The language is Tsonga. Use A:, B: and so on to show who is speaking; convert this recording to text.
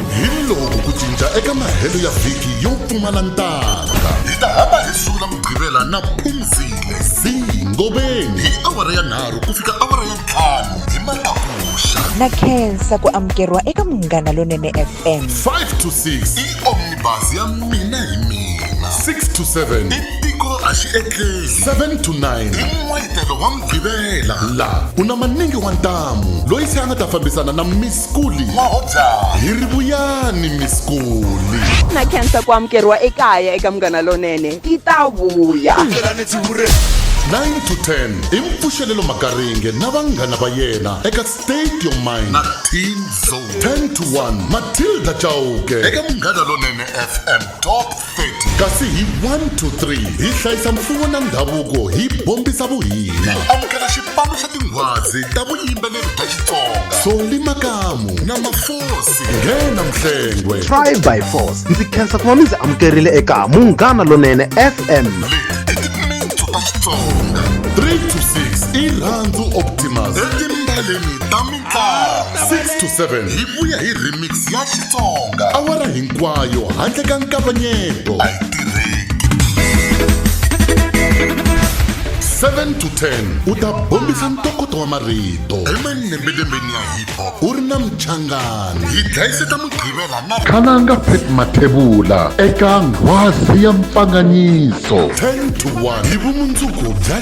A: Hi loko ku cinca eka mahelo ya vhiki yo pfumala ntanga. Hi ta hamba hi sula Mugqivela na Phumzile Zee Ngobeni hi awara ya nharhu ku fika awara ya ntlhanu hi matakuxa. Na khensa ku amukeriwa eka Munghana Lonene FM. 5 to 6 i omnibus ya mina hi mina. 6 to 7 i tiko a xi etleli. 7 to 9 i n'wetelo wa Mugqivela. La ku na maningi wa ntamu loyi se a nga ta fambisana na Miss Skuli mahodzana hi ri vuyani mi Skuli na khensa ku amukeriwa ekaya eka munghana lonene ti ta vuya 9 to 10 i mpfuxelelo makaringe na vanghana va yena eka state your mind na teen zone 10 to 1 matilda chauke eka munghana lonene fm top 30 kasi hi 1 to 3 hi hlayisa mfuwo na ndhavuko hi bombisa vuhina amukela xipano xa tinghwazi ta vuyimbeleri bya xitsonga soli makamu na mafosi nghena mhlengwe try by force ndzi khensa ku va mi ndzi amukerile eka munghana lonene fm leti i timitsu ta xitsonga 3 to 6 i rhandzu optimus etimbaleni ta mi 6 to 7 hi vuya hi remix ya xitsonga awara hinkwayo handle ka nkavanyeto a yi tirheki 7 to 10 u ta bombisa ntokoto wa marito emanembelembeni ya hip hop u ri na muchangani hi dlayiseta mugqivela na khalanga pet mathevula eka nghwazi ya mpfanganyiso 10 to 1 hi vumundzuku bya